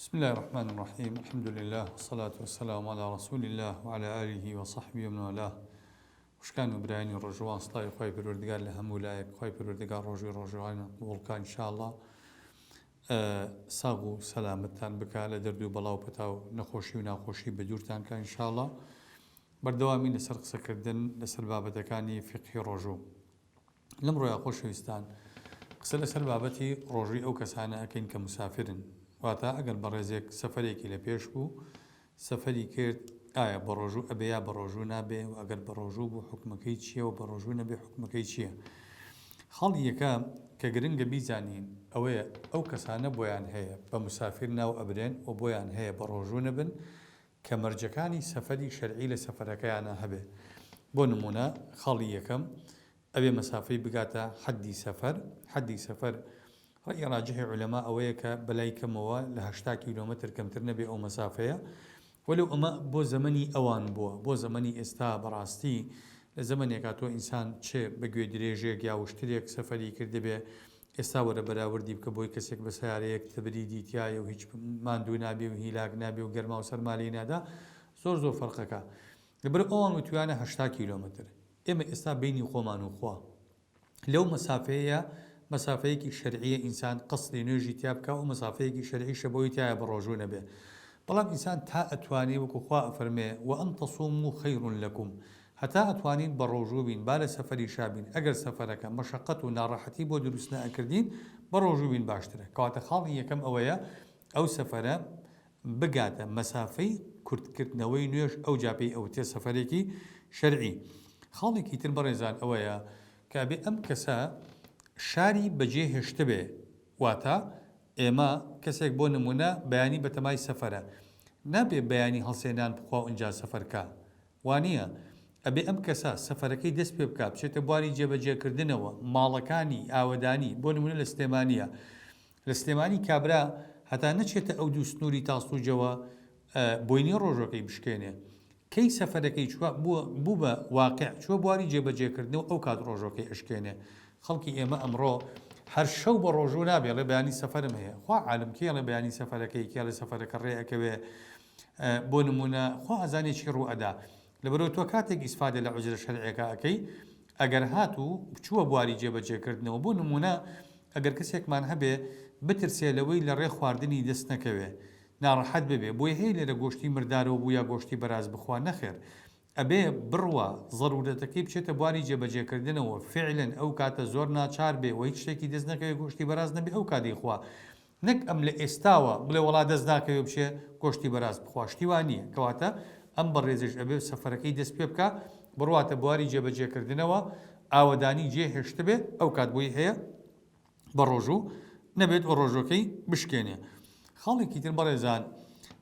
بسم اللە الرحمن الرحیم الحمد للە والصلاة والسلام علی رسول اللە وعلی آله وصحبه ومن والاه خوشکان و برایانی ڕۆژوان سڵاوی خوای پەروەردگار لە هەموو لایەک خوای پەروەردگار ڕۆژی ڕۆژوانە قبوڵکان انشاءاللە ساغ و سەلامەتتان بکا لە دەرد و بەڵا و پەتا و نەخۆشی و ناخۆشی بەدوورتان کە انشاءاللە بەردەوامی لەسەر قسەکردن لەسەر بابەتەکانی فقهی ڕۆژوو لەمڕۆیە خۆشەویستان قسە لەسەر بابەتی ڕۆژووی ئەو کەسانە ئەکەین کە موسافرن واتا ئەگەر بەڕێزێک سەفەرێکی لە پێش بوو سەفەری کرد ئایا بەڕۆژوو ئەبێ یا بەڕۆژوو نابێ و ئەگەر بەڕۆژوو بوو حکومەکەی چییە و بەڕۆژوو نەبێ حکومەکەی چییە خاڵی یەکە کە گرنگە بیزانین ئەوەیە ئەو کەسانە بۆیان هەیە بە موسافر ناو ئەبرێن و بۆیان هەیە بەڕۆژوو نەبن کە مەرجەکانی سەفەری شەرعی لە سەفەرەکەیانا هەبێ بۆ نموونە خاڵی یەکەم ئەبێ مەسافەی بگاتە حەدی سەفەر حەدی سەفەر ڕەئی ڕاجحی عولەما ئەوەیە کە بەلای کەمەوە لە هەشتا کیلۆمەتر کەمتر نەبێ ئەو مەسافەیە وەلو ئەمە بۆ زەمەنی ئەوان بووە بۆ زەمەنی ئێستا بەڕاستی لە زەمەنێکا تۆ ئینسان چ بە گوێدرێژێک یا وشترێک سەفەری کردبێ ئێستا وەرە بەراوردی بکە بۆی کەسێک بە سەیارەیەک تبریدی تیایە و هیچ ماندوو نابێ و هیلاک نابێ و گەرما و سەرما لێی نادا زۆر زۆر فەرقەکە لەبەر ئەوان وتویانە هەشتا کیلۆمەتر ئێمە ئێستا بینی خۆمان و خوا لەو مەسافەیە مەسافەیەکی شەرعیە ئینسان قەسری نوێژی تیا بکە و مەسافەیەکی شەرعیشە بۆی تایە بەڕۆژوو نەبێ بەڵام ئینسان تا ئەتوانێ وەکو خوا ئەفەرمێ وە ئەن تەسومو خەیرون لەکوم هەتا ئەتوانین بەڕۆژوو بین با لە سەفەری شا بین ئەگەر سەفەرەکە مەشەقەت و ناڕەحەتی بۆ دروست نەئەکردین بەڕۆژوو بین باشترە کەواتە خاڵی یەکەم ئەوەیە ئەو سەفەرە بگاتە مەسافەی کورت کردنەوەی نوێژ ئەوجا پێی ئەوترێ سەفەرێکی شەرعی خاڵێکی تر بەڕێزان ئەوەیە کە ئەبێ ئەم کەسە شاری بەجێ هێشتبێ واتە ئێمە کەسێک بۆ نمونە بەیانی بەتەمای سەفەرە نابێ بەیانی هەڵسێنان بخوا ئونجا سەفەر کا وانیە؟ ئەبێ ئەم کەسە سەفەرەکەی دەست پێ بکا بچێتە بواری جێبەجێکردنەوە، ماڵەکانی، ئاوەدانی، بۆ نمونە لە سلێمانیە، لە سلێمانی کابرا هەتا نەچێتە ئەو دوو سنوری تاسڵوجەوە بۆینی ڕۆژەکەی بشکێنێ، کەی سەفەرەکەی چوە بوو بە واقع چوە بواری جێبەجێکردنەوە ئەو کات ڕۆژەکەی ئەشکێنێ، خەڵکی ئێمە ئەمڕۆ هەر شەو بە ڕۆژوو نابێ ئەڵێ بەیانی سەفەرم هەیە، خوا عالم کێ ئەڵێ بەیانی سەفەرەکەی کێ ئەڵێ سەفەرەکە ڕێ ئەکەوێ، بۆ نمونە خوا ئەزانێ چی ڕوو ئەدا لەبەرو تۆ کاتێک ئیسفادە لە عوزرە شەرعیەکە ئەکەی ئەگەر هات و بچووە بواری جێ بەجێ کردنەوە بۆ نمونە ئەگەر کەسێکمان هەبێ بترسێ لەوەی لە ڕێ خواردنی دەست نەکەوێ ناڕەحەت ببێ بۆیە هەیە لێرە گۆشتی مردارەوە بوو یا گۆشتی بەراز بخوا نەخێر ئەبێ بڕوا زەرورەتەکەی بچێتە بواری جێبەجێکردنەوە، فعلەن ئەو کاتە زۆر ناچار بێ و هیچ شتێکی دەست نەکەوێ گۆشتی بەراز نەبێ ئەو کات دەیخوا. نەک ئەم لە ئێستاوە بڵێ وەڵا دەست ناکەوێ بچێ گۆشتی بەراز بخوا شتی وا نییە. کەواتە ئەم بەڕێزەیش ئەبێ سەفەرەکەی دەست پێ بکا بڕواتە بواری جێبەجێکردنەوە، ئاوەدانی جێ هێشتبێ ئەو کات بۆی هەیە، بە ڕۆژو نەبێت و ڕۆژوەکەی بشکێنێ خاڵێکی تر بەڕێزان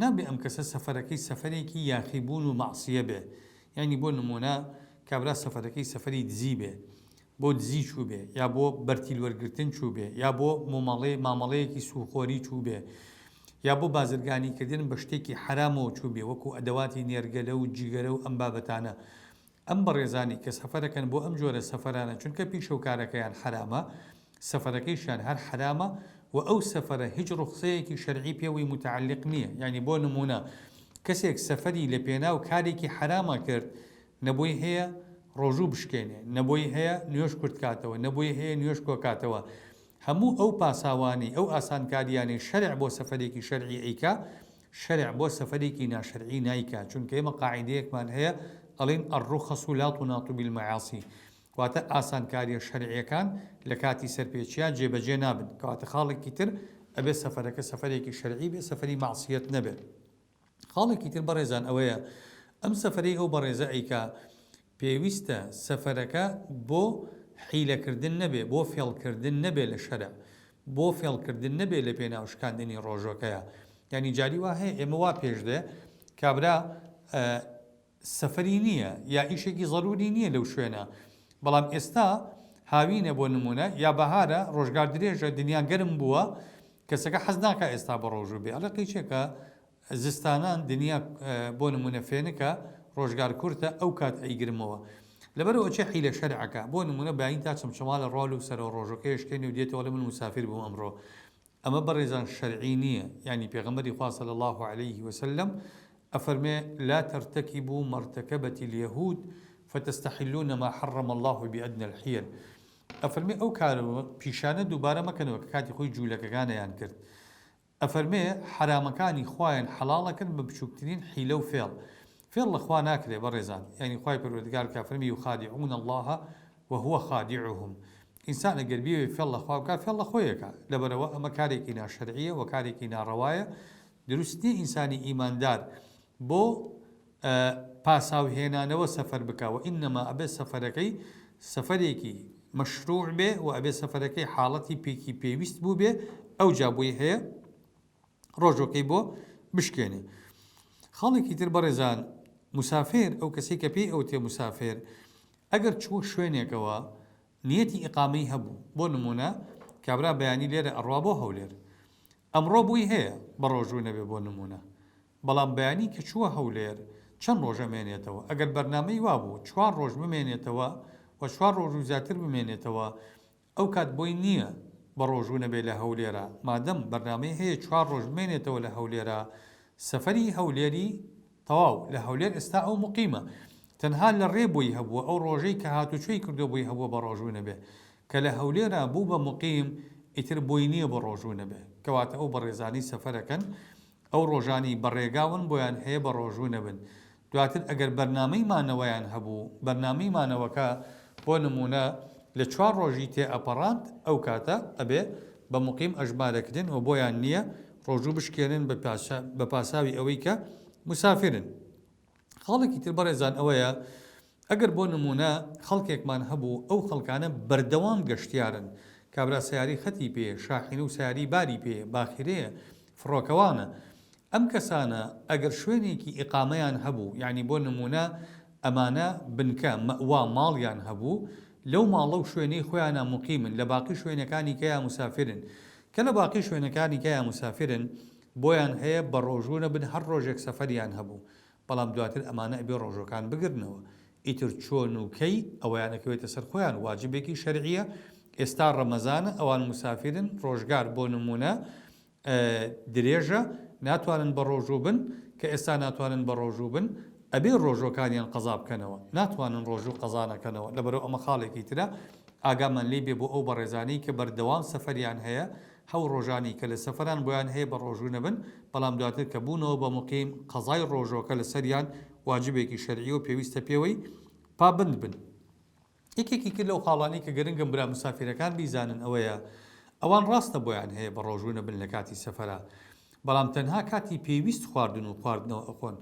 نابێ ئەم کەسە سەفەرەکەی سەفەرێکی یاخی بوون و مەعسیە بێ یعنی بۆ نمونە کابرا سەفەرەکەی سەفەری دزی بێ بۆ دزی چوو بێ یا بۆ بەرتیل وەرگتن چوو بێ یا بۆ مۆمەڵێ مامەڵەیەکی سوخۆری چوو بێ یا بۆ بازرگانی کردن بە شتێکی حرامەوە چوو بێ وەکو ئەدەواتی نێرگەلە و جیگەرە و ئەم بابەتانە ئەم بەڕێزانی کە سەفەرەکەن بۆ ئەم جۆرە سەفەرانە چونکە پیشە و کارەکەیان حەرامە سەفەرەکەیشیان هەر حەرامە وە ئەو سەفەرە هیچ ڕوخسەیەکی شەرعی پێوەی متعلق نیە یانی بۆ نمونە کەسێک سەفەری لە پێناو کارێکی حەرامە کرد نە بۆی هەیە ڕۆژوو بشکێنێ نە بۆی هەیە نوێژ کورت کاتەوە نە بۆی هەیە نوێژ کۆ کاتەوە هەموو ئەو پاساوانەی ئەو ئاسانکاریانەی شەرع بۆ سەفەرێکی شەرعی ئەیکا شەرع بۆ سەفەرێکی ناشەرعی نایکات چونکە ئێمە قاعیدەیەکمان هەیە ئەڵێین الرخص لا تناط بالمعاصی کەواتە ئاسانکاریە شەرعیەکان لە کاتی سەرپێچیا جێبەجێ نابن کەواتە خاڵێکی تر ئەبێت سەفەرەکە سەفەرێکی شەرعی بێت سەفەری مەعسیەت نەبێت خاڵێکی تر بەڕێزان ئەوەیە ئەم سەفەرەی ئەو بەڕێزە ئەیکا پێویستە سەفەرەکە بۆ حیلەکردن نەبێ، بۆ فێڵکردن نەبێ لە شەرع، بۆ فێڵکردن نەبێ لە پێناو شکاندنی ڕۆژەکەیا. یانی جاری وا هەیە ئێمە وا پێش دێ کابرا سەفەری نییە یا ئیشێکی زەرووری نییە لەو شوێنە، بەڵام ئێستا هاوینە بۆ نموونە یا بەهارە ڕۆژگار درێژە دنیا گەرم بووە، کەسەکە حەز ناکا ئێستا بەڕۆژوو بێ، ئەڵێ قەی چییە کە زستانان دنیا بۆ نمونە فێنکە ڕۆژگار کورتە ئەو کات ئەیگرمەوە لەبەر ئەوە چێ حیلە شەرعەکە بۆ نمونە باین تا چەمچەماڵە ڕۆل و سەرەوە ڕۆژەکەی ئەشکێنێ و دێتەوە ئەڵێ من موسافیر بووم ئەمڕۆ ئەمە بەڕێزان شەرعی نییە یانی پێغەمبەری خوا صلی اللە علیه و سلم ئەفەرمێ لا ترتکبو ما ارتکبت الیهود فتستحلون ما حرم اللە بادنی الحیل ئەفەرمێ ئەو کار و پیشانە دووبارە مەکەنەوە کە کاتی خۆی جولەکەکانیان کرد ئەفەرمێ حەرامەکانی خوایان حەڵاڵەکرد بە بچوکترین حیلە و فێڵ، فێڵ لە خوا ناکرێ بەڕێزان، یانی خوای پەروەردگار کە ئەفەرمێ یخادعون اللە و هو خادعهم، ئینسان ئەگەر بیەوێ فێڵ لە خوا بکا فێڵ لە خۆی ئەکا، لەبەرئەوە ئەمە کارێکی ناشەرعیە وە کارێکی ناڕەوایە، دروست نیە ئینسانی ئیماندار بۆ. پاساو هێنانەوە سەفەر بکا وە انما ئەبێ سەفەرەکەی سەفەرێکی مەشروع بێ وە ئەبێ سەفەرەکەی حاڵەتی پێکی پێویست بووبێ ئەوجا بۆی هەیە ڕۆژۆکەی بۆ بشکێنێ خاڵێکی تر بەڕێزان مسافر ئەو کەسی کە پێی ئەوتێ مسافر ئەگەر چووە شوێنێکەوە نیەتی ئقامەی هەبوو بۆ نمونە کابرا بەیانی لێرە ئەڕوا بۆ هەولێر ئەمڕۆ بۆی هەیە بەڕۆژوو نەبێ بۆ نموونە بەڵام بەیانی کە چووە هەولێر چەند ڕۆژ ئەمێنێتەوە ئەگەر بەرنامەی وابوو چوار ڕۆژ بمێنێتەوە و چوار ڕۆژ و زیاتر بمێنێتەوە ئەوکات بۆی نییە بەڕۆژوو نەبێ لە هەولێرا مادەم بەرنامەی هەیە چوار ڕۆژ بمێنێتەوە لە هەولێرا سەفەری هەولێری تەواو لە هەولێر ئێستا ئەو موقیمە تەنها لە ڕێ بۆی هەبووە ئەو ڕۆژەی کە هاتوچۆی کردووە بۆی هەبووە بە ڕۆژوو نەبێ کە لە هەولێرا بوو بە موقیم ئیتر بۆی نییە بە ڕۆژوو نەبێ کەواتە ئەو بەڕێزانەی سەفەرەکەن ئەو ڕۆژانەی بە ڕێگاون بۆیان هەیە بە ڕۆژوو نەبن دواتر ئەگەر بەرنامەی مانەوەیان هەبوو بەرنامەی مانەوەکە بۆ نموونە لە چوار ڕۆژی تێ ئەپەڕاند ئەو کاتە ئەبێ بە موقیم ئەژمارەکرێن و بۆیان نییە ڕۆژوو بشکێنن بە پاساوی ئەوەی کە مسافرن. خاڵێکی تر بەڕێزان ئەوەیە ئەگەر بۆ نموونە خەڵکێکمان هەبوو ئەو خەڵکانە بەردەوام گەشتیارن کابرا سەیارەی خەتی پێیە شاحینە و سەیاری باری پێیە باخیرەیە فڕۆکەوانە ئەم کەسانە ئەگەر شوێنێکی ئیقامەیان هەبوو یعنی بۆ نموونە ئەمانە بنکە مەئوا ماڵیان هەبوو لەو ماڵە و شوێنەی خۆیانا موقیمن، لە باقی شوێنەکانی کەیا موسافرن. کە لە باقی شوێنەکانی کەیا موسافرن، بۆیان هەیە بە ڕۆژوو نەبن، هەر ڕۆژێک سەفەریان هەبوو. بەڵام دواتر ئەمانە ئەبێ ڕۆژووەکان بگرنەوە. ئیتر چۆن و کەی، ئەوەیان ئەکەوێتە سەر خۆیان، واجبێکی شەرعییە. ئێستا ڕەمەزانە، ئەوان موسافرن، ڕۆژگار، بۆ نموونە، درێژە ناتوانن بەڕۆژوو بن کە ئێستا ناتوانن بەڕۆژوو بن ئەبێ ڕۆژوەکانیان قەزا بکەنەوە ناتوانن ڕۆژوو قەزا نەکەنەوە لەبەرو ئەمە خاڵێکی ترە ئاگامان لێی بێ بۆ ئەو بەڕێزانەی کە بەردەوام سەفەریان هەیە هەو ڕۆژانی کە لە سەفەران بۆیان هەیە بە ڕۆژوو نەبن بەڵام دواتر کە بوونەوە بە موقیم قەزای ڕۆژوەکە لەسەریان واجبێکی شەرعیەو پێویستە پێوەی پابەند بن. یەکێکی کە لەو خاڵانەی کە گرنگن برا مسافیرەکان بیزانن ئەوەیە ئەوان ڕاستە بۆیان هەیە بە ڕۆژوو نەبن لە کاتی سەفەرا بەڵام تەنها کاتی پێویست خواردن و خواردنەوە ئەخۆن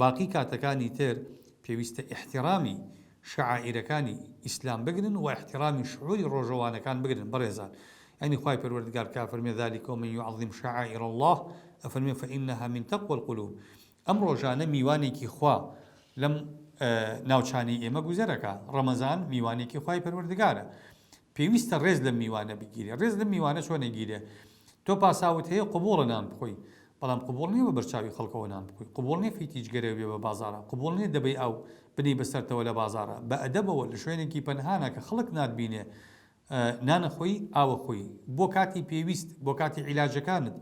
باقی کاتەکانی تر پێویستە ئیحتیڕامی شەعائیرەکانی ئیسلام بگرن و ئیحتیڕامی شعوری ڕۆژەوانەکان بگرن بەڕێزان یانی خوای پەروەردگار کە ئەفەرمێ ذلک ومن یعظم شعائر اللە ئەفەرمێ فانها من تقوی القلوب ئەم ڕۆژانە میوانێکی خوا لەم ناوچانەی ئێمە گوزەرەکە ڕەمەزان میوانێکی خی پەروەردگارە پێویستە ڕێز لە میوانە بگیرێ ڕێز لە میوانە چۆن نەگیرێ تۆ پاساوت هەیە قوبوڵە نان بخۆی بەڵام قوبوڵ نیە بە بەرچاوی خەڵکەوە نان بخۆی قوبوڵ نیە فیتیج گەرەوێ بە بازارە قوبوڵ نیە دەبەی ئەو بنی بەسەرتەوە لە بازارە بە ئەدەبەوە لە شوێنێکی پەنهانە کە خەڵک ناتبینێ نانە خۆی، ئاوە خۆی، بۆ کاتی پێویست، بۆ کاتی عیلاجەکانت،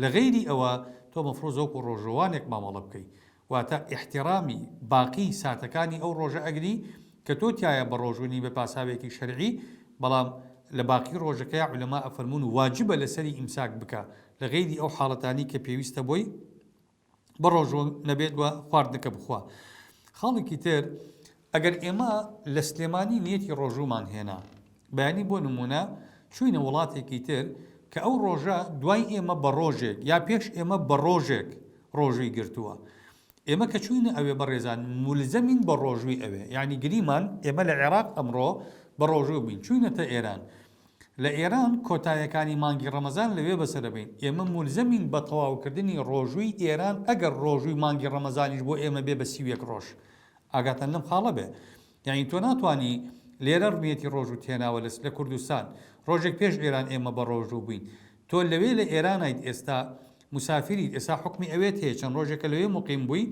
لە غەیری ئەوە تۆ مەفروزە وەکو ڕۆژەوانێک مامەڵە بکەی، واتە ئیحتیڕامی باقی ساتەکانی ئەو ڕۆژە ئەگری کە تۆ تیایا بە ڕۆژوو نی بە پاساوێکی شەرعی، بەڵام لە باقی ڕۆژەکەیا عولەما ئەفەرموون واجبە لەسەری ئیمساک بکا لە غەیری ئەو حاڵەتانەی کە پێویستە بۆی، بە ڕۆژوو نەبێت و خواردنەکە بخوا خاڵێکی تر ئەگەر ئێمە لە سلێمانی نیەتی ڕۆژوومان هێنا بەیانی بۆ نمونە چوینە وڵاتێکی تر کە ئەو ڕۆژە دوای ئێمە بە ڕۆژێک یا پێش ئێمە بە ڕۆژێک ڕۆژووی گرتووە ئێمە کە چوینە ئەوێ بەڕێزان مولزەمین بە ڕۆژووی ئەوێ یعنی گریمان ئێمە لە عێراق ئەمڕۆ بە ڕۆژوو بین چوینەتە ئێران لە ئێران کۆتایەکانی مانگی ڕەمەزان لەوێ بەسەرەبەین ئێمە مولزەمین بە تەواوکردنی ڕۆژووی ئێران ئەگەر ڕۆژووی مانگی ڕەمەزانیش بۆ ئێمە بێ بە سی و یەک ڕۆژ ئاگاتان لەم خاڵە بێ یانی تۆ ناتوانی لێرە ڕمیەتی ڕۆژووت هێناوە لە کوردستان ڕۆژێک پێش ئێران ئێمە بە ڕۆژوو بووین تۆ لەوێ لە ئێرانیت ئێستا موسافیریت ئێستا حوکمی ئەوێت هەیە چەند ڕۆژێکە لەوێ موقیم بووی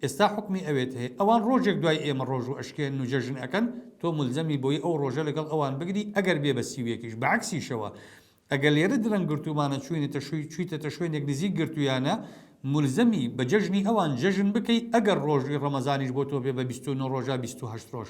ئێستا حوکمی ئەوێت هەیە ئەوان ڕۆژێک دوای ئێمە ڕۆژوو ئەشکێنن و جەژن ئەکەن تۆ مولزەمی بۆی ئەو ڕۆژە لەگەڵ ئەوان بگری ئەگەر بێ بە سی و یەکیش بە عەکسیشەوە ئەگەر لێرە درەنگ گرتوومانە چووینەتە شووی چوویتەتە شوێنێک نزیک گرتوویانە مولزەمی بە جەژنی ئەوان جەژن بکەی ئەگەر ڕۆژووی ڕەمەزانیش بۆ تۆ بێ بە بیست و نۆ ڕۆژە بیست و هەشت ڕۆژ